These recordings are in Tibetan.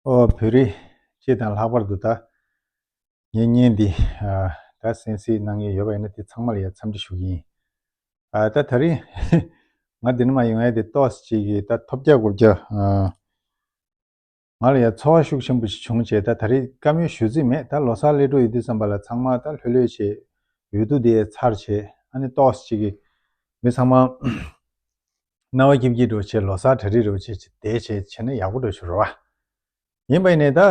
བོད་རིགས་སྤྱི་དང་ལྷག་པར་དུ་ད་ངེད་གཉེན་འདི་ད་སེམས་སེ་གནང་ཡས་ཡོད་པ་ཡིན་ན་དེ་ཚང་མ་ལ་ཡ་འཚམས་འདྲི་ཞུ་གིན་ཡིན། ད་ད་རིང་ང་འདི་འདྲ་མ་ཡོང་ཡས་དེ་ཏོག་སེ་གཅིག་གིས་ད་ཐོབ་བརྒྱ་དགུ་བརྒྱ། ང་ལ་ཡང་ཚོར་བ་ཤུགས་ཆེན་པོ་ཞིག་བྱུང་བྱས་ད་ད་རེས་བཀའ་མོལ་ཞུ་རྩིས་མེད་ད་ལོ་སར་སླེབས་འགྲོ་ཡི་འདུག་བསམ་པ་ལ་ཚང་མ་ད་ལྷོད་ལྷོད་བྱས་ཡོད་འདུག་དེ་ཚར་བྱས་ཨ་ནི་ཏོག་ཅིག་གིས་མི་ཚང་མ་རྣ་བ་སྐྱིབ་སྐྱིབ་འགྲོ་བྱས་ལོ་སར་གྲ་སྒྲིག་རེ་བྱས་བྱས་དེ་བྱས་བྱས་ན་ཡག་པོ་འགྲོ་ཤོར་བ་ཡིན་པ་ཡིན་ནས་ད་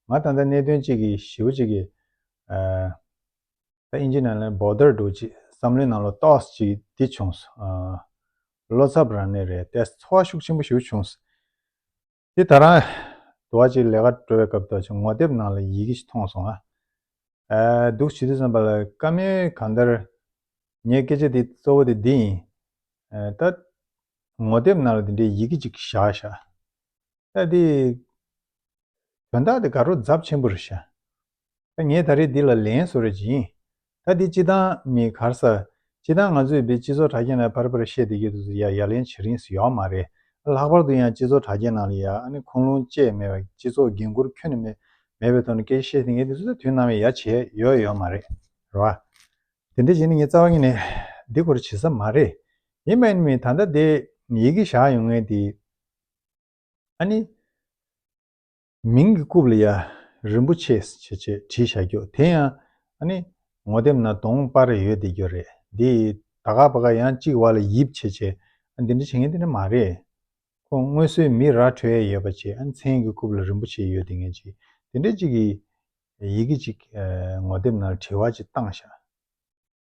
ང་ད་ལྟ་གནད་དོན་ཅིག་གི་ཞིབ་ཅིག་གི་ད་ཨིན་ཇི་ནང་ལ་འབོ་ལྡར་འགྲོ་ཅིག་བསམ་བློའི་ནང་ལོ་ཏོག་ཅིག་འདི་བྱུང་སོང། བློ་འཚབ་རང་ནས་རེད་བལྟས་ཚོར་བ་ཤུགས་ཆེན་པོ་ཞུ་བྱུང། དེ་ད་རང། དུ་བ་ཅིག་ལས་ཀ་གྲོལ་བའི་སྐབས་དུ་བྱུང་ངོ་དེབ་ནང་ལ་ཡི་གེ་ཞིག་མཐོང་སོང། ཨ། སྡུག་ཇི་སྡུག་བསམ་པ་ལ་དཀའ་མོད་གང་ལྟར། ངས་སྐད་ཆ་དེ་གཙོ་བོ་དེ་འདི་ཡིན། ད། ངོ་དེབ་ནང་ལ་དེ་འདྲའི་ཡི་གེ་ཅིག་བཞག་བཞག། ད་དེ། དོན་དག་དེ་དགའ་རོགས་རྫབ་ཆེན་པོ་རེད་ཤ་ད་ངས་ད་རེས་འདི་ལ་ལན་བཟོ་རེ་བྱིན་ད་འདི་སྤྱི་དང་མི་གར་ས་སྤྱི་དང་ང་ཚོས་འདི་སྤྱི་ཚོགས་དྲ་རྒྱ་ནས་བར་བར་བཤད་དེ་ཡོད་དུ་ཟེར་ཡ་ཡ་ལན་བྱེད་རིན་ཟེར་ཡོག་མ་རེད་ལྷག་པར་དུ་ཡང་སྤྱི་ཚོགས་དྲ་རྒྱའི་ནང་ལ་ཡ་ཨ་ནི་ཁུངས་ལུང་བཅས་མེད་པ་སྤྱི་ཚོགས་འགན་འཁུར་ཁྱོན་ནས་མེད་མེད་པའི་ཐོག་ནས་སྐད་ཆ་བཤད་དེ་ངས་འདི་ཚོ་ད་དུས་ནམ་ཡ་ཡ་བྱས་ཡོད་ཡོད་མ་རེད་ར་བ། དེ་འདྲ་བྱས་ནས་ངས་རྩ་བ་ཉིད་ནས་འདི་སྐོར་བྱེད་ས་མ་རེད་ཡིན་པ་ཨ་ནི་མི་ད་ལྟ་འདི་ཡི་གེ་བཞག་ཡོང་ངའི་འདི། ཨ་ནི། མིང་གི་རྐུབ་ལ་ཡ། རིན་པོ་ཆེ། ཞེས་བྲིས་བཞག་རྒྱུ་དེ་ཡང། ཨ་ནི། ངོ་དེབ་ན་དོང་དཔར་རེ་ཡོད་དེ་རྒྱུ་རེད། འདི། ད་ག་པ་ག་ཡང་གཅིག་བ་ལ་ཡིབ་བྱེད་བྱེད། ཨ་འདི་འདྲ་བྱེད་ངེས་དེ་འདྲ་མ་རེད། ཁོ་སྔོན་སོའི་མི་ར་གྲོད་ཡ་ཡོད་པ་བྱེད་ཨ་ནི་མཚན་གི་རྐུབ་ལ་རིན་པོ་ཆེ་ཡོད་དེ་ངེས་བྱེད། དེ་འདྲ་གཅིག་གི། ཡི་གེ་གཅིག། ངོ་དེབ་ན་བྲི་བ་གཅིག་བཏང་བཞག།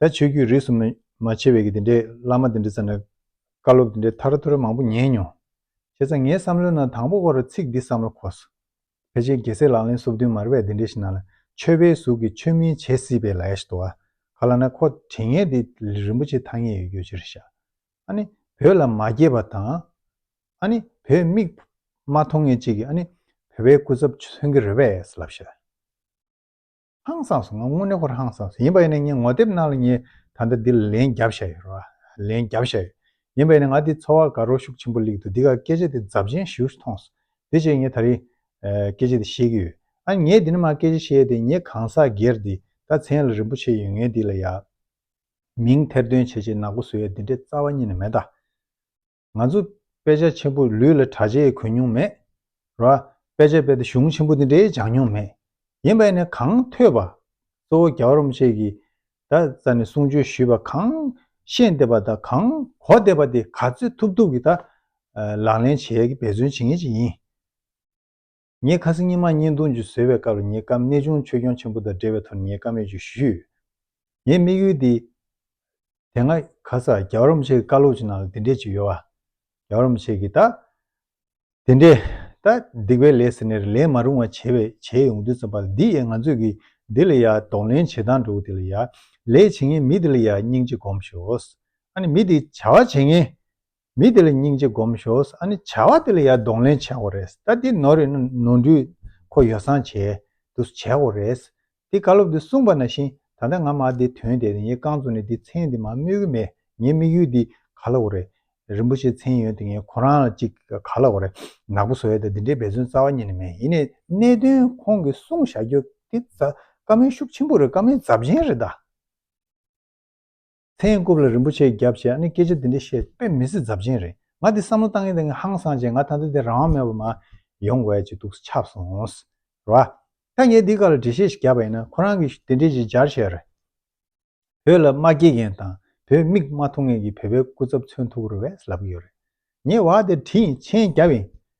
ད་ཆོས་རྒྱུད་རིས་སུ་མ་ཕྱེ་བའི་དེ་འདྲའི་བླ་མ་དེ་འདྲའི་ཚ་ནས་བཀའ་སློབ་དེ་འདྲའི་ཐར་ཐོར་མང་པོ་ཉན་མྱོང། བྱས་ཙང་ངའི་བསམ་བློའི་ནང་དང་པོ་བོར་ཚིག་འདི་བསམ་བློ་འཁོར་སོང། ཕལ་ཆེར་རྒྱལ་སྲས་ལག་ལེན་སོ་བདུན་མར་བས་དེ་འདྲའི་ཞིག་ནང་ལ་ཆོས་པའི་གཟུགས་ཀྱི་ཆོས་མིན་བྱེད་སྲིད་པའི་ལས་ཞིག་འདུག་ག་ལ་ན་ཁོ་དྲིན་ངན་དེ་རིན་པོ་ཆེ་ཐ་སྙད་ཡོད་རྒྱུ་ཅི་རེད་ཤག་ཨ་ནི་བོད་ལ་མ་སྐྱེས་པ་དང། ཨ་ནི་བོད་མིག་མ་མཐོང་ངེས་ཅིག་གིས་ཨ་ནི་བོད་པའི་སྐུ་ཚབ་མཚོན་གྱི་རེད་པས་ལབ་ཤག། ཧང་སངས་སོང་ང་དངོས་གནས་ཁོར་ཧང་སངས་སོང་ཡིན་པ་ཡིན་ན་ངས་ངོ་དེབ་གནང་ལ་ངས་ད་ལྟ་འདི་ལ་ལན་བརྒྱབ་ཤ་ཡོད་རོ་ལན་བརྒྱབ་ཤ་ཡོད་ཡིན་པ་ཡིན་ན་ང་འདི་འཚོ་བ་དགའ་རོགས་ཤུགས་ཆེན་པོ་ལེགས་འདུག་འདི་ག་སྐད་ཆ་དེ་རྫབ་ཆེན་བཞུགས་སུ་ཐོངས་སོ་དེ་བྱས་ངས་ད་རིང་སྐད་ཆ་དེ་ཤེས་ཀྱི་ཡོད་ཨ་ངས་འདི་ནས་མ་སྐད་ཆ་བཤད་དེ་ངས་གང་ཟག་སྒེར་འདི་ད་མཚན་ལ་རིན་པོ་ཆེ་ཡོད་ངས་འདི་ལ་ཡག་མིང་ཐེར་འདོན་བྱེད་ཆེད་ནག་པོ་བཟོ་ཡ་འདི་འདྲའི་རྩ་བ་གཉིས་ནས་མེད་ད། ང་ཚོ་དཔེ་ཆ་ཆེན་པོ་ལུས་ལ་གྲ་ཆས་གོན་མྱོང་མེད་ར། དཔེ་ཆ་དཔེ་ལྟ་གཞུང་ཆེན་པོ་དེ་འདྲའི་སྦྱང་མྱོང་མེད། ཡིན་པས་ནི་གང་ཐོས་པ། གཙོ་བོ་རྒྱ་བ་རོམ་བཅས་ཀྱིས་བརྡ་རྩ་ནས་གསུང་ཆོས་ཞུས་པ་གང་ཤེས་འདེབས་པ་དང་གང་གོ་བདེ་བ་དེ་ག་ཚོད་ཐུབ་ཐུབ་ཀྱིས་དག་ལག་ལེན་བྱས་ཀྱི་འབད་བརྩོན་བྱེད་ངེས་ཅིག་ཡིན། ངས་ཁ་སང་ཉིན་མ་གཉིས་འདུག་འཇུ་བཟོས་པའི་སྐབས་ལ་ངའི་སྐམ་གནས་ཅུང་ཆོས་སྐྱོང་ཆེན་པོ་དང་འབྲེལ་བའི་ཐོག་ནས་ངའི་སྐམ་ཡོད་ཅིག་ཞུས། ངའི་དམིགས་ཡུལ་འདི། དེ་སྔ། ག་ས་རྒྱ་བོར་རམ་ཆེ་གི་བཀའ་སློབ་ཅིག་ནང་ལ་འདི་འདྲས་ཅིག་ཡོད། རྒྱ་བོར་རམ་ཆེ་གིས། ད། དེ་འདྲས། ད། སྡིག་པའི་ལས་ཟེར་ནས་རེ་ལན་མ་རུང་བ་བྱས་བས་བྱས་ཡོང་དུས་ཙམ་པ་ལ་འདི་ཡས་ང་ཚོས་ཀྱིས་འདི་ལ་ཡ་གདོང་ལེན་བྱེད་སྟངས་འགྲོ་གི་དེ་ལ་ཡ། ལས་བྱེད་མཁན་མི་དེ་ལ་ཡ་སྙིང་རྗེ་སྒོམས་ཞོགས། ཨ་ནི་མི་དེ་བྱ་བ་བྱེད་མཁན། མི་དེ་ལ་སྙིང་རྗེ་སྒོམ་ཞོགས་ཨ་ནི་བྱ་བ་དེ་ལ་ཡར་གདོང་ལེན་བྱས་འོ་རེད་ད་འདི་ནོར་རེད་ན་ནོར་འགྲུལ་ཁོ་ཡོ་སྲང་བྱས་འདུག་བྱས་འོ་རེད་འདི་བཀའ་སློབ་འདི་གསུངས་པ་ན་བཞིན་ད་ལྟ་ང་མ་འདི་དོན་དེ་ངས་རྐང་བཙུགས་ནས་འདི་མཚན་འདི་མ་སྨོས་གི་མེད་ངའི་དམིགས་ཡུལ་འདི་ག་ལ་འོ་རེད་རིན་པོ་ཆེ་མཚན་ཡོད་འདི་ངས་ཁོ་རང་ལ་ཅིག་ག་ལ་འོ་རེད་ནག་པོ་བཟོ་ཡ་ད་འདི་འདྲའི་འབད་བརྩོན་རྩ་བ་ཉིད་ནས་མེད་ཡིན་ནས་གནད་དོན་ཁོང་གི་གསུང་བཞག་རྒྱུ་འདི་བཀའ་མོལ་ཤུགས་ཆེན་པོ་རེད་བཀའ་མོལ་རྫབ་ཆེན་རེད་ད། ཚེ་ཡིན་རྐུབ་ལ་རིན་པོ་ཆེ་བརྒྱབ་ཞེས་ཨ་ནི་སྐད་ཆ་འདི་འདྲ་བཤད་དཔེ་མི་སྲིད་རྫབ་ཆེན་རེད་ང་འདི་བསམ་བློ་བཏང་ཡས་དེ་ངས་ཧང་སང་བྱས་ང་ད་ལྟ་འདི་རང་དབང་མེད་པར་མ་ཡོང་དགོས་ཀྱི་འདུག་ཆབ་སོང། རེད་བ། ད་ངས་འདི་ག་ལ་འགྲེལ་བཤད་ཞིག་བརྒྱབ་པ་ཡིན་ན་ཁོ་རང་གིས་དེ་འདྲས་ཅིག་སྦྱར་བྱས་རེད། བོད་ལ་མ་སྐྱེས་མཁན་དང་བོད་མིག་མ་མཐོང་མཁན་གྱི་བོད་པའི་སྐུ་ཚབ་མཚོན་ཐུག་རེ་བས་ལབ་གི་ཡོད་རེད། ངས་བ་དེ་བྲིས་མཆན་བརྒྱབ་ཡིན།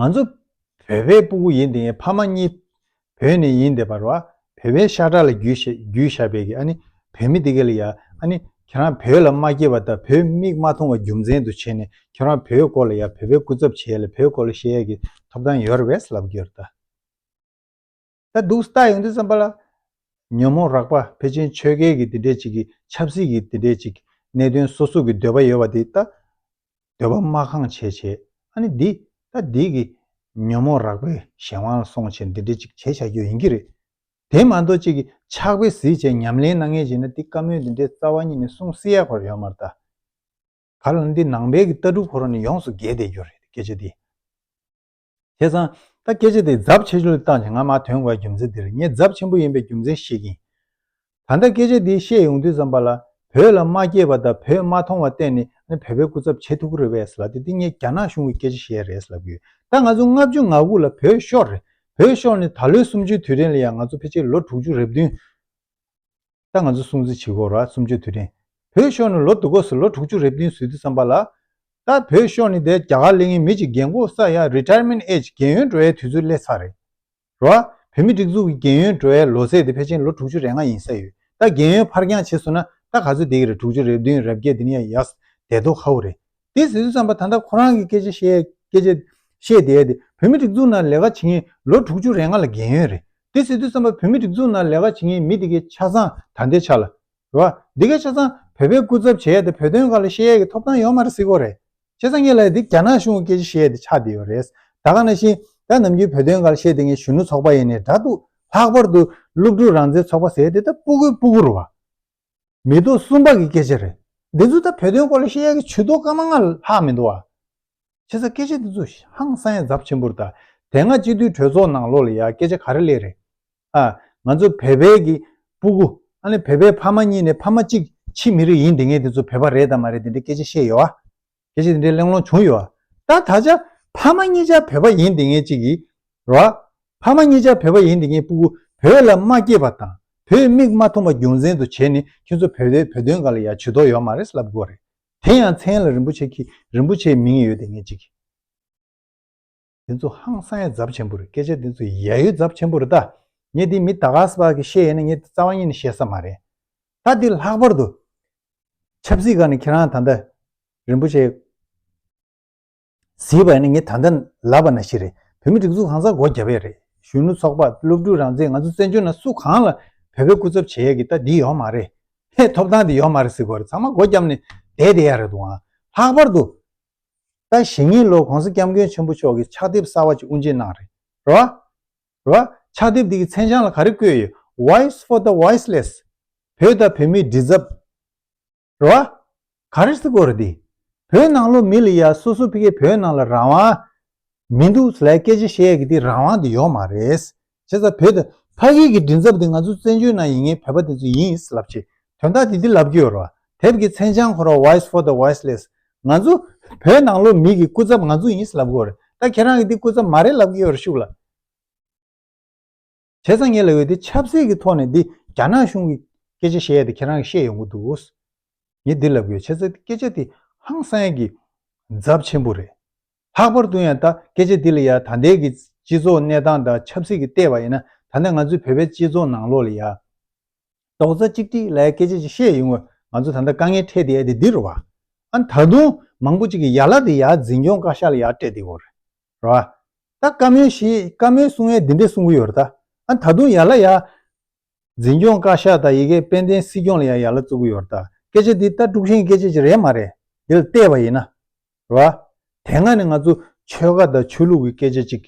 ང་ཚོ་བོད་པའི་སྤུ་གུ་ཡིན་དེ་ཕ་མ་གཉིས་བོད་ནས་ཡིན་དེ་བར་བ་བོད་པའི་ཤ་ཁྲག་ལ་རྒྱུས་ཤ་བས་ཀྱི་ཨ་ནི་བོད་མི་དེ་ག་ལ་ཡ་ཨ་ནི་ཁྱེད་རང་བོད་ལ་མ་སྐྱེས་བ་དང་བོད་མིག་མ་མཐོང་བ་རྒྱུ་མཚན་དུ་བྱས་ནས་ཁྱེད་རང་བོད་སྐོར་ལ་ཡ་བོད་པའི་སྐུ་ཚབ་བྱས་ལ་བོད་སྐོར་ལ་བཤད་ཡ་གྱི་ཐོབ་ཐང་ཡོད་ར་བས་ལབ་རྒྱུ་ཡོད་ར་ད། ད་སྡུག་ས་ལྟ་ཡོང་དུས་བསམ་པ་ལ། ཉོན་མོངས་རགས་པ་ཕལ་ཆེན་ཆོས་སྐལ་གྱི་འདི་འདྲའི་ཅིག་གི་ཆབ་སྲིད་ཀྱི་འདི་འདྲའི་ཅིག་གནད་དོན་སོ་སོ་གི་འདོད་པ་ཡོད་པ་འདི་ད། འདོད་པ་སྨྲ་གང་བྱེད་བྱས་ཨ་ནི་འདི་ད་འདི་གི། ཉོན་མོངས་རགས་པའི་གཞན་དབང་ལ་སོང་བྱས་འདི་འདྲའི་ཅིག་བྱས་བྱ་རྒྱུ་ཡིན་གྱི་རེད། དེ་མ་གཏོགས་ཅིག་གི་ཆགས་པའི་གཟི་བྱས་ཉམས་ལེན་གནང་ངེས་བྱས་ན་འདི་བཀའ་མོལ་འདི་འདྲའི་རྩ་བ་ཉིད་ནས་གསུང་བསྲི་ཡག་པར་ཡོད་མ་རེད་དཱ། ག་ལ་འདི་ནང་པའི་གི་ལྟ་གྲུབ་ཁོ་རང་ནས་ཡོངས་སུ་འགལ་བསྡད་རྒྱུ་རེད་སྐད་ཆ་འདི། བྱས་ཙང། ད་སྐད་ཆ་དེ་རྫབ་ཆེ་ཆུང་ལ་བརྟག་ཅིང་ང་མ་ཐོན་བར་རྒྱུ་མཚན་དེར་ངས་རྫབ་ཆེན་པོ་ཡིན་པའི་རྒྱུ་མཚན་ཤེས་ཀྱིན། ད་ལྟ་སྐད་ཆ་འདི་བཤད་ཡོང་དུས་ཙམ་པ་ལ་བོད་ལ་མ་སྐྱེས་པ་དང་བོད་མ་མཐོང་བ་བལྟས་ནས་ཨ་ནི་བོད་པའི་སྐུ་ཚབ་བྱེད་ཐུབ་ཀི་རེད་བས་ལབ་སྟེ་འདི་ངས་རྒྱ་ནག་གཞུང་གི་སྐད་ཆ་ཞིག་ཡ་རེད་ལབ་ཀི་ཡོད་ད་ང་ཚོ་ལྔ་བཅུ་ང་དགུ་ལ་བོད་ཤོར་རེད་བོད་ཤོར་ནས་ད་ལོའི་གསུམ་བཅུའི་དུས་དྲན་ལ་ཡང་ང་ཚོ་ཕལ་ཆེར་ལོ་དྲུག་ཅུ་རེ་བདུན། ད་ང་ཚོ་སྲུང་བརྩི་བྱེད་དགོས་ར་སུམ་ཅུ་དུས་དྲན་བོད་ཤོག་ནི་ལོ་དུ་གོ་སོ་ལོ་དྲུག་ཅུ་རེ་བདུན་བཟོས་དུས་བསམ་པ་ལ། ད་བོད་ཤོག་ནི་དེ་རྒྱ་གར་གླེང་ཡིན་མི་ཅིག་རྒན་གོ་ས་ཡ Retirement Age རྒན་ཡོལ་འགྲོ་ཡའི་དུས་ཚོད་སླེ་ཚར་རེད། རོ་ཨ། བོད་མི་སྒྲིག་འཛུགས་ཀྱི་རྒན་ཡོལ་འགྲོ་ཡའི་ལོ་ཚད་དེ་ཕལ་ཆེན་ལོ་དྲུག་ཅུ་རེ་ལྔ་ཡིན་ས་ཡོད་ད་རྒན་ཡོལ་ཕར་འགྱངས་བྱེད་སོང་ན་ད་ག་ཚོད་བསྡད་ཀྱི་རེད་དྲུག་ཅུ་རེ་བདུན་རབས་བརྒྱད་དེ་ནི་ཡ་ཡ། བསྡད་དོ་ཧ་བོ་རེད། དེ་ཟེར་དུས་བསམ་པ་ད་ལྟ་ཁོ་རང་གི་སྐད་ཆ་བཤད་བསྡད་དེ་བོད་མི་སྒྲིག་འཛུགས་ནང་ལས་ཀ་བྱེད་མཁན་ལོ་དྲུག་ཅུ་རེ་ལྔ་ལ་བརྒལ་ཡོད་རེད་དེ་ཟེར་དུས་བསམ་པ་བོད་མི་སྒྲིག་འཛུགས་ནང་ལས་ཀ་བྱེད་མཁན་མི་དེ་གའི་ཆ་ཚང་ད་ལྟའི་ཆ་ལ་རེད་དེ་གའི་ཆ་ཚང་བོད་པའི་སྐུ་ཚབ་བྱས་ཏེ་བོད་དོན་ག་ལ་བཤད་ཡས་ཀྱི་ཐོབ་ཐང་ཡོད་མ་རེད་སྲིད་གོ་རེད་བྱས་ཙང་ངེད་ལ་དེ་རྒྱ་ནག་གཞུང་གི་སྐད་ཆ་བཤད་དེ་ཆགས་བསྡད་ཡོད་རེད་ད་ག་ན་བཞིན་ད་ནམ་རྒྱུན་བོད་དོན་ག་ལ་བཤད་དེ་ངའི་གཞོན་ནུ་ཚོགས་པ་ཡེ་ནས་འདྲ་འདུག་ལྷག་པར་དུ་སློབ་ཕྲུག་རང་བཙན་ཚོགས་པ་ཟེར་དེ་ད་སྤུ་གུ་སྤུ་གུ་རུ་བ། མི་རྡོ་གསུམ་པ་གི་སྐད་ཆ་རེད། འདི་ཚོ་ད་བོད་དོན་སྐོར་ལ་ཤེས་ཡ་གི་ཇུས་གཏོགས་སྐར་མ་ལྔ་ལྷག་མི་འདུག་ཨ། ཁྱེད་ས་སྐད་ཆ་འདི་ཚོ་ཧང་སངས་རྫབ་ཆེན་པོར་དང་དེ་སྔ་སྤྱི་འཐུས་གྲོས་ཚོགས་ནང་ལོག་ལ་ཡ་སྐད་ཆ་ག་རེ་ལས་རེད་ཨ། ང་ཚོ་བལ་བལ་གི་སྤུ་གུ་ཨ་ལས་བལ་བལ་ཕ་མ་གཉིས་ནས་ཕ་མ་གཅིག་ཕྱི་མི་རིགས་ཡིན་དེ་ངས་འདི་ཚོ་བལ་བ་རེད་དང་མ་རེད་འདི་འདྲའི་སྐད་ཆ་བཤད་ཡོད་ཨ། གལ་སྲིད་དེ་འདྲའི་གླེང་སློང་བྱུང་ཡོད། ད་ད་ཆ་ཕ་མ་གཉིས་ཆར་བོད་པ་ཡིན་དེ་ངེད་ཅིག་གིས། ར། ཕ་མ་གཉིས་ཆར་བོད་པ་ཡིན་དེ་ངེད་སྤུ་གུ་བོད་ལ་མ་སྐྱེས་པ་དང་བོད་མིག་མ་ཐོན་པ་རྒྱུ་མཚན་དུ་བྱས་ནས་ཁྱོད་ཚོ་བོད་པའི་བོད་དོན་ག་ལ་ཡག་བྱུས་དོགས་ཡོད་མ་རེད་ལབ་དགོས་རེད། དེ་ཡང་མཚན་ལ་རིན་པོ་ཆེ་ཁྱི་རིན་པོ་ཆེའི་མིང་ཡོད་དེ་ངེད་ཅིག་གིས། འདི་ཚོ་ཧང་སང་ཡ་རྫབ་ཆེན་པོ་རེད་སྐད་ཆ་འདི་ཚོ་ཡ་ཡོད་རྫབ་ཆེན་པོ་རེད་ད། ངས་འདི་མི་ད་ག་ཟ་བ་གི་བཤད་ཡས་ན་ངས་འདི་རྩ་བ་ཉིད་ནས་བཤད་ས་མ་རེད། ད་འདི་ལྷག་པར་དུ། ཆབ་སྲིད་ཁང་ནས་ཁྱེད་རང་ད་ལྟ། རིན་པོ་ཆེ། གཟིགས་པ་ཡིན་ན་ངས་ད་ལྟ་ལབ་པ་ན་ཞིག་རེད་བོད་མི་སྒྲིག་འཛུགས་གང་ཟག་སྒོ་རྒྱབ་ཡས་རེད་གཞོན་ནུ་ཚོགས་པ་སློབ་ཕྲུག་རང་བཙན་ང་ཚོ་བཙན་བྱོལ་ན་སུ་གང་ལ་བོད་པའི་སྐུ་ཚབ་བྱེད་ཡས་ཀྱི་ད་འདི་ཡོག་མ་རེད། ཐོབ་ཐང་འདི་ཡོག་མ་རེད་ཟིག་གོ་རེད་ཚང་མ་སྒོ་རྒྱབ་ནས་བསྡད་བསྡད་ཡས་རེད་དུ་ཨང་ལྷག་པར་དུ། ད་ཞི་ཉིན་ལོར་གོང་ས་སྐྱབས་མགོན་ཆེན་པོ་མཆོག་གིས་ཕྱག་དེབ་གསར་བ་ཅིག་དབུ་འབྱེད་གནང་རེད། ཕྱག་དེབ་དེ་གི་མཚན་བྱང་ལ་ག་རེ་བཀོད་ཡོད Voice for the Voiceless བོད་དང་བོད་མིའི་འདྲི་རྩབ། ག་རེ་སི་ཀོ་རེད་འདི། བོད་ནང་ལོ་མི་ལ་ཡ་སོ་སོ་ཕི་གས་བོད་ནང་ལ་རང་དབང་མི་འདུག་ལ་སྐད་ཆ་བཤད་ཡ་གི་དེ་རང་དབང་དེ་ཡོག་མ་རེད། བྱས་ཙང་བོད་དུ་ཕ་གིའི་གི་མགྲིན་ཚབ་དེ་ང་ཚོ་བཙན་བྱོལ་ནང་ཡིན་ངེས་བོད་པ་དེ་ཚོ་ཡིན་ཨིས་ལབ་ཆེ་དོན་དག་དེ་འདི་ལབ་ཀྱི་ཡོད་རོ་དེབ་གི་མཚན་བྱང་འཁོར་བ voice for the voiceless ང་ཚོ་བོད་ནང་ལོ་མིག་གི་སྐུ་ཚབ་ང་ཚོ་ཡིན་ཨིས་ལབ་དགོས་རེད་ད་ཁྱེད་རང་གི་འདི་སྐུ་ཚབ་མ་རེད་ལབ་ཀྱི་ཡོད་རེད་ཤུགས་ལ་བྱས་ཙང་ངེས་ལ་ཡོད་དེ་ཆབ་སྲིད་གི་ཐོག་ནས་འདི་རྒྱ་ནག་གཞུང་གི་སྐད་ཆ་བཤད་ཡས་དེ་ཁྱེད་རང་གི་ཤེས་ཡོང་གི་འདུག་ངས་འདི་ལབ་ཀྱི་ཡོད་བྱས་ཙང་སྐད་ཆ་དེ་ཧང་སངས་ཀྱི་འཛབ་ཆེན་པོ་རེད་ལྷག་པར་དུ་ཡང་ད་སྐད་ཆ་འདི་ལ་ཡ་ད་འདས་ཀྱི་སྤྱི་ཚོགས་གནས་སྟངས་དང་ཆབ་སྲིད་ཀྱི་ལྟས་བ་ཡིན་ན་ད་ནས་ང་ཚོའི་བོད་པའི་སྤྱི་ཚོགས་ནང་ལོགས་ལ་ཡ། རྡོག་རྩ་གཅིག་སྒྲིག་ལའི་སྐད་ཆ་ཅིག་བཤད་ཡོང་བས་ང་ཚོ་ད་ལྟ་དཀའ་ངལ་འཕྲད་དེ་ཡ་དེ་འདི་རུ་བ། ཨ་ད་དུང་མང་པོ་ཅིག་གིས་ཡ་ལ་དེ་ཡ་འཛིན་སྐྱོང་བཀའ་ཤག་ལ་ཡ་སྤྲད་དེ་བོ། ར་བ། ད་བཀའ་མོལ་ཞེས་བཀའ་མོལ་གསུང་བས་འདི་འདྲས་གསུང་གི་ཡོད་རེད་ད། ཨ་ད་དུང་ཡ་ལ་ཡ། འཛིན་སྐྱོང་བཀའ་ཤག་དང་ཡི་གེ་དཔལ་ལྡན་སྲིད་སྐྱོང་ལ་ཡང་ཡ་ལ་བཙུགས་གི་ཡོད་རྟ་སྐད་ཆ་འདི་ལྟ་དཀྲུག་ཤིང་སྐད་ཆ་ཅིག་རེད་མ་རེད་འདི་ལ་བལྟས་པ་ཡིན་ན་རེད་བ། དེ་སྔ་ནས་ང་ཚོ་ཆོལ་ཁ་དང་ཆོས་ལུགས་ཀྱི་སྐད་ཆ་ཅིག་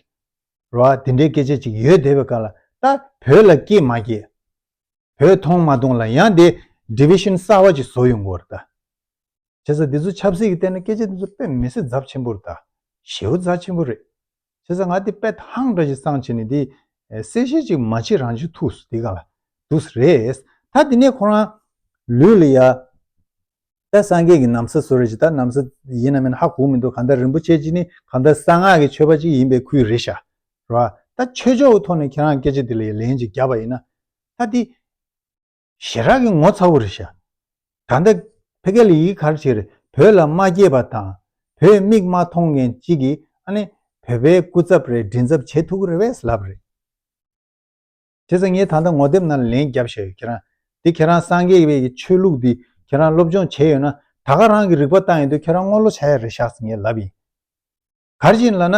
རེད་བ་འདི་འདྲའི་སྐད་ཆ་ཅིག་ཡོད་བསྡད་པའི་ཁ་ལ་ད་བོད་ལ་སྐྱེས་མ་སྐྱེས། བོད་མཐོང་མ་མཐོང་ལ་ཡང་དེ Division གསར་བ་ཅིག་བཟོ་ཡོང་གི་རེད་བསྡད། བྱས་ཙང་འདི་ཚོ་ཆབ་སྲིད་ཀྱི་སྟེང་ན་སྐད་ཆ་འདི་ཚོ་དཔེ་མི་སྲིད་རྫབ་ཆེན་པོ་རེད་བདེ། ཞེའུ་རྫ་ཆེན་པོ་རེད། བྱས་ཙང་ང་དེ་དཔེ་ཐང་འདྲ་ཞིག་བསང་བྱས་ནས་དེ་གསལ་བཤད་ཅིག་མ་བྱེད་རང་བྱེད་ཐུགས་སུ་དེ་ག་ལ་འདུག་ས་རེད། ད་དེ་ནས་ཁོ་རང་ལུས་ལ་ཡ། ད་སངས་རྒྱས་ཀྱི་ནམ་ས་བཟོ་རེ་བྱས་ད་ནམ་ས་ཡིན་ནམ་མིན་ཧ་གོ་མི་འདུག་གང་ལྟར་རིན་པོ་ཆེ་གཅིག་ནི་གང་ལྟར་གསང་སྔགས་ཀྱི་ཆོས་པ་གཅིག་ཡིན་པའི་ཁུལ་རེད་ཤག་རོགས་ཨ། ད་ཆོས་ཕྱོགས་ཀྱི་ཐོག་ནས་ཁྱེད་རང་སྐད་ཆ་དེ་ལ་ཡ་ལན་ཅིག་རྒྱབ་པ་ཡིན་ན། ད་དེ། ཞེ་དྲག་གི་ངོ་ཚ་བོ་རེ་བྱ། ད་ལྟ་ཕེ་གྷལ་ལི་ཡིས་གར་ཕྱིར་བོད་ལ་མ་སྐྱེས་པ་དང་བོད་མིག་མ་མཐོང་མཁན་གཅིག་གིས་ཨ་ནི་བོད་པའི་སྐུ་ཚབ་རེ་མགྲིན་ཚབ་བྱེད་ཐུག་གི་རེད་བས་ལབ་རེད། དེ་ཚོ་ངས་ད་ལྟ་ངོ་དེབ་ནང་ལེན་རྒྱབ་བཞག་ཡོད་ཁྱེད་རང་དེ་ཁྱེད་རང་སངས་རྒྱས་པའི་ཆོས་ལུགས་དེ་ཁྱེད་རང་སློབ་སྦྱོང་བྱས་ཡོད་ན་ད་ག་རང་གི་རིག་པ་བཏང་ཡོད་དུས་ཁྱེད་རང་བསྔོ་བློ་བྱ་ཡ་རེ་བཞག་ངས་ལབ་ཡིན། གར་བཞིན་ལ་ན།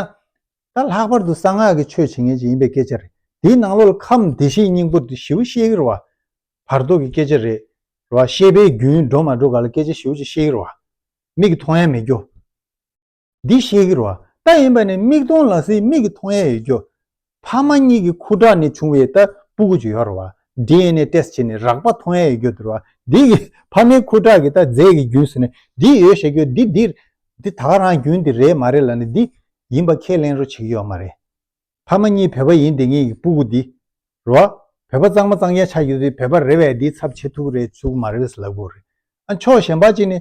ད་ལྷག་པར་དུ་གསང་སྔགས་ཀྱི་ཆོས་བྱེད་ངེས་ཅན་ཡིན་པའི་སྐད་ཆ་རེད། དེའི་ནང་ལོགས་ལ་ཁམས་བདེ་གཤེགས་སྙིང་པོ་དེ་ཞེའུ་གཤེགས་ཡིར་བ། བར་དོ་གི་སྐད་ཆ་རེད། རེད་བ། ཤེས་པའི་རྒྱུན་འགྲོ་མ་འགྲོ་ག་ལ་སྐད་ཆ་ཞེའུ་ཅིག་གཤེགས་ཡིར་བ། མིག་གི་མཐོང་ཡ་མེད་རྒྱུ། འདི་གཤེགས་ཡིར་བ། རྟ་ཡིན་པ་ནས་མིག་མཐོང་ལ་སྲིད་མིག་གི་མཐོང་ཡ་ཡོད་རྒྱུ། ཕ་མ་གཉིས་ཀྱི་ཁུ་ཁྲག་ནས་བྱུང་བའི་ལྟ་སྤུ་གུ་ཇི་ཡོར་བ DNA test བྱས་ནས་རག་པ་མཐོང་ཡས་ཡོད་རྒྱུ་དུར་བ་འདི་གི་ཕ་མའི་ཁུ་ཁྲག་གི་ལྟ་རྫས་ཀྱི་རྒྱུས་སུ་ནས་འདི་ཡོད་བཤད་རྒྱུ་འདི་འདི་འདི་ད་ག་རང་རྒྱུན་འདི་རེད་མ་རེད་ལ་ནས་འདི་ཡིན་པ་ཁས་ལེན་རོ་བྱེད་ཀྱི་ཡོད་མ་རེད། ཕ་མ་གཉིས་བོད་པ་ཡིན་དེ་ངེད་ཀྱི་སྤུ་གུ་འདི་རུ་བ་བོད་པ་གཙང་མ་གཙང་རྒྱན་ཆ་རྒྱུ་དེ་བོད་པ་རེད་བས་འདིའི་ཚབ་བྱེད་ཐུག་རེད་ཚུག་མ་རེད་ལབ་དགོས་རེད་ཨ་མཆོག་གཞན་པ་གཅིག་ནས་ཧཧཧ།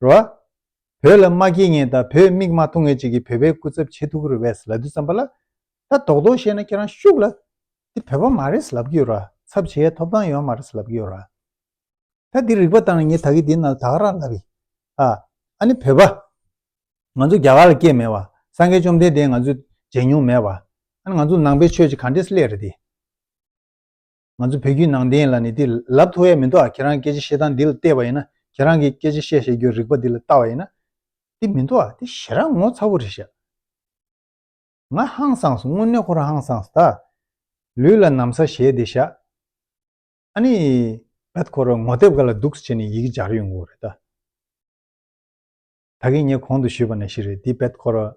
རོ། བོད་ལ་མ་སྐྱེས་ངེས་དང་བོད་མིག་མ་མཐོང་ངེས་ཅིག་གིས་བོད་པའི་སྐུ་ཚབ་ཆེ་ཐུགས་ཁུར་བས་ལབ་རྒྱུ་བརྩམས་པ་ལ། ད་དོག་དོག་བཤད་ན་ཁྱེད་རང་ཤུགས་ལ། འདི་བོད་པ་མ་རེད་ལབ་ཀྱི་ཡོད་ར། ཚབ་བྱེད་ཡའི་ཐོབ་ཐང་ཡོད་མ་རེད་ལབ་ཀྱི་ཡོད་ར། ད་འདི་རིག་པ་དང་ངས་ད་གི་འདི་ན་དག་ར་ལབ་ཡི། ཨ། ཨ་ནི་བོད་པ། ང་ཚོ་རྒྱ་གར་ལ་སྐྱེས་མེད་བ། སངས་རྒྱས་བཅོམ་ལྡན་འདས་ང་ཚོས་མཇལ་མྱོང་མེད་བ། ཨ་ནི་ང་ཚོ་ནང་པའི་ཆོས་ཀྱི་ག་འདྲེས་ལས་རེད་དེ། ང་ཚོ་བོད་བརྒྱུད་ནང་བསྟན་ལ་ནི་དེ་ལབ་ཐུ་བས་མི་འདུག་ཨ་ཁྱེད་རང་སྐད་ཆ་བཤད་སྟངས་འདི་ལ་བལྟས་པ་ཡིན་ན་ཁྱེད་རང་གིས་སྐད་ཆ་བཤད་བཤད་རྒྱུའི་རིག་པ་འདི་ལ་བལྟ་བ་ཡིན་ན་དེ་མི་འདུག་ཨ་དེ་ཞེ་རང་ངོ་ཚ་བོ་རེད་ཤག་ང་ཧང་སངས་སོ་དངོས་གནས་ཁོ་རང་ཧང་སངས་སོ་ད་ལུས་ལ་ནམ་ས་བཞེས་དེ་ཤག་ཨ་ནི་བད་ཁོ་རང་ངོ་དེབ་ག་ལ་འདུག་སེ་བྱས་ནས་ཡི་གེ་སྦྱར་ཡོང་གི་འོ་རེད་ད། ད་གིན་ངས་གོང་དུ་ཞུས་པ་ནི་ཞིག་རེད་འདི་བེད་ཁོ་ར།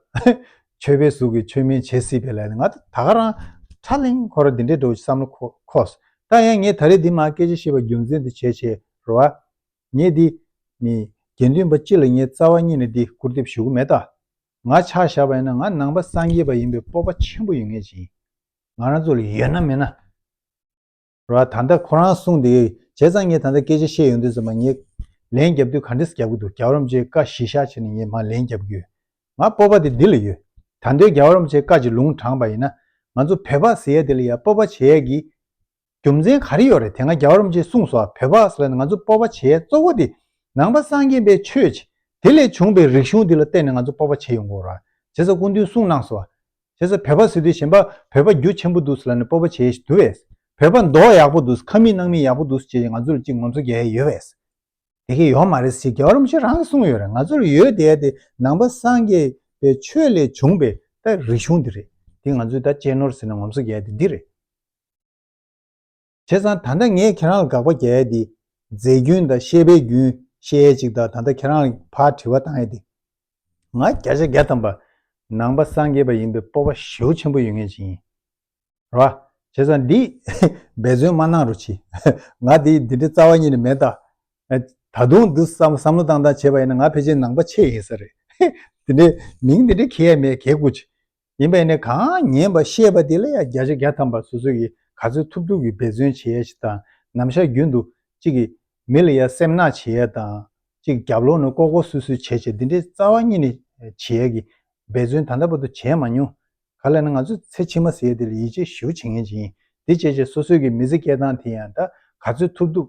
ཆོས་པའི་གཟུགས་ཀྱི་ཆོས་མིན་བྱེད་སྲིད་པའི་ལས་ནི་ང་ད་ག་རང་ཁྲ་ལིང་ཁོ་ར་འདི་འདྲའི་འགྲོ་བྱེད་བསམ་བློ་ཁོ། ད་ཡང་ངས་ད་རེས་འདི་མ་སྐད་ཆ་བཤད་པ་རྒྱུ་མཚན་འདི་བྱས་བྱས་ར་བ། ངས་འདི། མི། དགེ་འདུན་པ་སྤྱི་ལ་ངས་རྩ་བ་གཉིས་ནས་འདི་བསྐུར་འདེབས་ཞུ་གི་མེད་ད། ང་ཆགས་བཞག་པ་ཡིན་ན་ང་ནང་པ་སངས་རྒྱས་པ་ཡིན་པའི་སྤོབས་པ་ཆེན་པོ་ཡོད་ངེས་ཅིང། ང་རང་ཚོ་ལ་ཡོད་ན་མེད་ན། ར་བ་ད་ལྟ་ཁོ་རང་གསུངས་དེ་བྱས་ཙང་ངས་ད་ལྟ་སྐད་ཆ་བཤད་ཡོང་དུས་སུ་མ་ངས་ལན་བརྒྱབ་དུས་ག་འདྲས་བརྒྱབ་ཀྱི་འདུག་རྒྱ་རོམ་ཅའི་བཀའ་གཞི་བཞག་ཕྱིར་ནས་ངས་མ་ལན་བརྒྱབ་ཀྱི་ཡོད། ང་སྤོབས་པ་དེ་འདི་ལ་ཡོད། ད་འདོད་རྒྱ་རོམ་ཅའི་བཀའ་གྱི་ལུང་དྲངས་པ་ཡིན་ན་ང་ཚོ་བོད་ཕག་ཟེར་ཡས་དེ་ལ་ཡང་སྤོབས་པ་བྱེད་ཡས་ཀྱི་རྒྱུ་མཚན་ག་རེ་ཡོད་རེད་དེ་སྔ་རྒྱ་རོམ་ཅས་གསུངས་སོ་བོད་ཕག་ཟེར་བ་ནི་ང་ཚོ་སྤོབས་པ་བྱེད་ཡས་གཙོ་བོ་དེ་ནང་པ་སངས་རྒྱས་པའི་ཆོས་ཀྱི་དེ་ལས་བྱུང་པའི་རིག་གཞུང་དེ་ལ་བརྟེན་ནས་ང་ཚོ་སྤོབས་པ་བྱེད་ཡོང་དགོས་ར་བྱས་ས་སྐུ་མདུན་གསུངས་གནང་སོ་བ་བྱས་ས་བོད་པ་ཟེར་དུས་གཞན་པ་བོད་པ་རྒྱུ་ཆེན་པོ་འདུག་ཟེར་ལ་ནི་སྤོབས་པ་བྱེད་འདུག་བས། བོད་པ་མདོག་ཡག་པོ་འདུག་ཁ་མིག་རྣག་མིག་ཡག་པོ་འདུག་ཅེས་ང་ཚོ་ལ་ཅིག་ངོམ་སོ་རྒྱག་ཡས་ཡོད་བས། དེ་གས་ཡོག་མ་རེད་ཟེར་རྒྱ་རོམ་ཞིག་རང་གིས་གསུངས་ཡོད་རེད་ང་ཚོ་ལ་ཡོད་དེ་ཡ་དེ་ནང་པ་སངས་རྒྱས་པའི་ཆོས་ལས་བྱུང་པའི་ད་རིག་གཞུང་དེ་རེད་དེ་ང་ཚོས་ད་གཅེས་ནོར་ཟེར་ནས་ངོམ་སོ་རྒྱག་ཡས་དེ་འདི་རེད། བྱས་ཙང་ད་ལྟ་ངས་ཁྱེད་རང་ལ་དགག་པ་རྒྱག་ཡས་དེ། རྫས་རྒྱུན་དང་ཤེས་པའི་རྒྱུན་ཤེས་ཡས་ཅིག་དང་ད་ལྟ་ཁྱེད་རང་ལ་ཕར་དྲི་བ་བཏང་ཡས་དེ། ང་བརྒྱ་ཆ་བརྒྱ་ཐམ་པ་ནང་པ་སངས་རྒྱས་པ་ཡིན་པའི་སྤོབས་པ་ཞེ་བོ་ཆེན་པོ་ཡོད་ངེས་ཅི་ཡིན། ར། བྱས་ཙང་འདི། འབད་བརྩོན་མ་གནང་རུ་ཆི། ང་དེ་འདི་འདྲའི་རྩ་བ་ཉིད་ནས་མེད་ད། ད་དུང་འདི་བསམ་བསམ་བློ་བཏང་བཏང་བྱས་པ་ཡིན་ན་ང་ཕལ་ཆེར་ནང་པ་ཆེ་ཡིན་ས་རེད། དེ་འདྲའི་མིང་འདི་འདྲའི་གྱེས་ཡས་མེད་གས་དགོས་ཆི། ཡིན་པས་ནི་གང་ཉན་པ་ཤེས་པ་དེ་ལ་ཡང་བརྒྱ་ཆ་བརྒྱ་ཐམ་པ་སོ་སོ་ཡིས་ག་ཚོད་ཐུབ་ཐུབ་ཀྱིས་འབད་བརྩོན་བྱེད་ཡས་ཤིག་དང་ནམ་བཞག་རྒྱུན་དུ་གཅིག་གིས་མི་ལ་ཡ་སེམས་གནག་བྱེད་ཡས་དང་གཅིག་རྒྱབ་ལོག་ནས་ལྐོག་ལྐོག་སུད་སུད་བྱས་བྱས་འདི་འདྲའི་རྩ་བ་གཉིས་ནས་བྱེད་ཡས་ཀྱི་འབད་བརྩོན་ད་ལྟ་བར་དུ་བྱས་མ་མྱོང། ག་ལ་ནི་ང་ཚོས་ཚེ་ཕྱི་མ་ཟེར་ཡས་དེ་ལ་ཡིད་ཆེས་ཞུ་བྱེད་ངེས་ཅི་ཡིན་དེ་བྱས་བྱས་སོ་སོའི་གི་མི་ཚེ་སྐྱེལ་སྟངས་དེ་ཡང་ད་ག་ཚོད་ཐུབ་ཐུབ།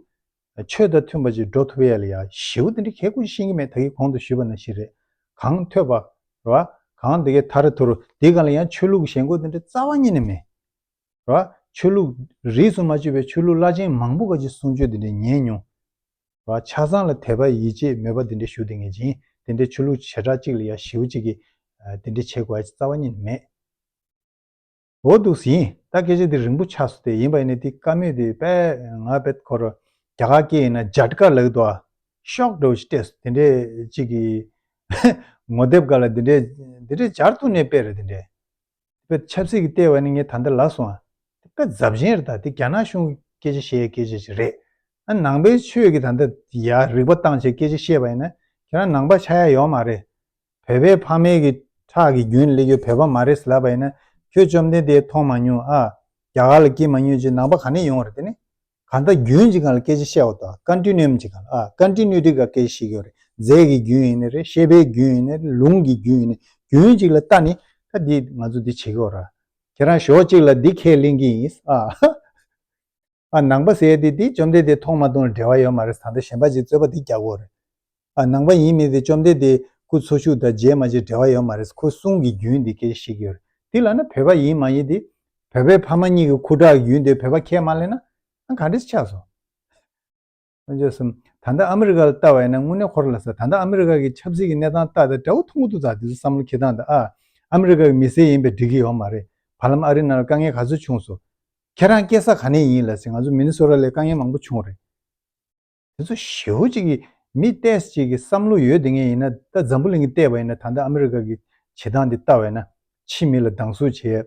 ཆོས་དང་མཐུན་པ་ཅིག་འགྲོ་ཐུབ་ཡས་ལ་ཡ་ཞེའུ་དེ་འདྲ་ཁྱེད་ཀུན་ཤེས་ཀྱི་མེད་ད་ཡིག་གོང་དུ་ཞུས་པ་ན་ཞིག་རེད་གང་ཐོས་པ་རེད་བ་གང་འདི་གའི་ཐར་ཐུར་འདི་གང་ལ་ཡང་ཆོས་ལུགས་ཞེན་གོ་དེ་འདྲ་རྩ་བ་ཉིད་ནས་མེད་རེད་བ་ཆོས་ལུགས་རིས་སུ་མ་བཅུས་པའི་ཆོས་ལུགས་བླ་ཆེན་མང་པོ་ག་ཅིག་གསུང་ཆོས་དེ་འདྲ་ཉན་མྱོང་རེད་བ་ཆ་ཚང་ལ་དད་པ་ཡིད་ཆེས་མོས་པ་དེ་འདྲ་ཞུ་དེ་ངེས་ཅན་དེ་འདྲའི་ཆོས་ལུགས་བྱེ་བྲག་ཅིག་ལ་ཡ་ཞེའུ་ཅིག་གིས་དེ་འདྲ་བྱེད་དགོས་ཨ་ཅེ་རྩ་བ་ཉིད་ནས་མེད། འོ་འདུག་ཟིན་ཡིན་ད་སྐད་ཆ་འདི་རིང་པོ་ཆགས་སོ་དེ་ཡིན་པ་ཡིན་ནི་དེ་ཀ་མེད་དེ་པད་ང་པད་ཁོ་རོ་རྒྱ་གར་སྐད་ཡིན་ན་རྗ་དཀར་ལགས་འདུག་ཨ། ཤོག་དྲོ་ཞིག་སྤྲད་སོ་དེ་འདྲས་ཅིག་གི། ངོ་དེབ་ག་ལ་འདི་འདྲས་འདི་འདྲས་སྦྱར་ཐུག་ནས་པད་རེད་དེ་འདྲས། པད་ཆབ་སྲིད་ཀྱི་ལྟས་བ་ནི་ངས་ད་ལྟ་ལ་སོང་ཨ། དེ་པད་རྫབ་ཞན་རེད་ད་དེ་རྒྱ་ནག་གཞུང་གི་སྐད་ཆ་བཤད་སྐད་ཆ་ཞིག་རེད། ཨ་ནང་པའི་ཆོས་ཀྱི་ད་ལྟ་ཡ་རིག་པ་བཏང་བྱས་སྐད་ཆ་བཤད་པ་ཡིན་ན་ཁྱེད་རང་ནང་པ་ཆགས་ཡ་ཡོག་མ་རེད། བོད་པའི་ཕ་མེས་ཀྱི་ཁྲག་གི་རྒྱུན་སླེ་རྒྱུ་བོད་པ་མ་རེད་ལབ་པ་ཡིན་ན་ཁྱོད་བཅོམ་ལྡན་འདས་མཐོང་མ་མྱོང་ཨ། རྒྱ་གར་ལ་སྐྱེས་མ་མྱོང་ཅི་ནང་པ་ག་ནས་ཡོང་རེད་དེ་ནས། ག་ནྡ་རྒྱུན་ཅི་གང་ལ་སྐད་ཅི་བཤད་བ་དོ་ཀ་འདྲི་ནོམ་ཅི་གང་ལ་ཨ་ཀ་འདྲི་ནུས་དྲི་ག་སྐད་ཅི་ཤེས་ཀྱི་རེད་རྫས་ཀྱི་རྒྱུན་ཡིན་ནི་རེད་ཤེས་པའི་རྒྱུན་ཡིན་ནི་རེད་ལུང་གི་རྒྱུན་ཡིན་ནི་རྒྱུན་ཅིག་ལ་ལྟ་ནི་ད་འདི་ང་ཚོ་འདི་བྱེད་ཀྱི་འོ་ར། ཁྱེད་རང་ཞོག་ཅིག་ལ་འདི་ཁས་ལེན་གྱི་ཡིན་ཨ། ཨ་ནང་པ་ཟེར་ཏེ་འདི་བཅོམ་ལྡན་འདས་མཐོང་མ་མཐོང་ལ་འབྲེལ་བ་ཡོད་མ་རེད་ད་ལྟ་གཞན་པ་ཅིག་རྩོད་པ་འདི་རྒྱག་གོ་རེད། ཨ་ནང་པ་ཡིན་མིན་དེ་བཅོམ་ལྡན་འདས་སྐུ་འཚོ་ཞུགས་དང་རྗེས་མ་ཅིག་འབྲེལ་བ་ཡོད་མ་རེད་ཁོའི་གསུང་གི་རྒྱུན་འདི་སྐད་ཞིག་ཡོད་རེད་འདི་ལ་ན་བོད་པ་ཡིན་མ་ཡིན་དེ། བོད་པའི་ཕ་མ་གཉིས་ཀྱི་ཁུ་ཁྲག་གི་རྒྱུན་དེ་བོད་པ་ཁས་མ་ལེན་ན་ཨ་ག་འདྲི་ཆགས་སོང། བློ་འབྱེད་གསུམ། ད་ལྟ་ཨ་མི་རི་ཀ་ལ་ལྟ་བ་ཡིན་ན་དངོས་གནས་ཁོར་ལ་ཟེར་ད་ལྟ་ཨ་མི་རི་ཀ་གི་ཆབ་སྲིད་ཀྱི་གནས་སྟངས་ལྟ་དེ་དགྲ་བོ་ཐུང་ངུ་ཏུ་ཛག་དེ་ཚོའི་བསམ་བློ་འཁྱེར་སྟངས་དང་ཨ་ཨ་མི་རི་ཀ་གི་མི་སེར་ཡིན་པས་འགྲིག་གི་ཡོད་མ་རེད། བར་ལམ་ཨ་རིའི་ནང་ལ་དཀའ་ངལ་ག་ཚོད་བྱུང་སོང། ཁྱེད་རང་སྐྱེས་ས་ག་ནས་ཡིན་ལ་ཟེར་ང་ཚོ་མི་ནི་སོ་ར་ལས་དཀའ་ངལ་མང་པོ་བྱུང་རེད། དེ་ཚོ་ཞེ་བོ་ཅིག་གི་མི་ལྟས་ཅིག་གི་བསམ་བློ་ཡོད་དེ་ངས་ཡིན་ན་ད་འཛམ་བུ་གླིང་གི་ལྟས་པ་ཡིན་ན་ད་ལྟ་ཨ་མི་རི་ཀ་གི་བྱེད་སྟངས་དེ་ལྟ་བ་ཡིན་ན་ཕྱིའི་མི་ལ་སྡང་ཟུག་བྱེད།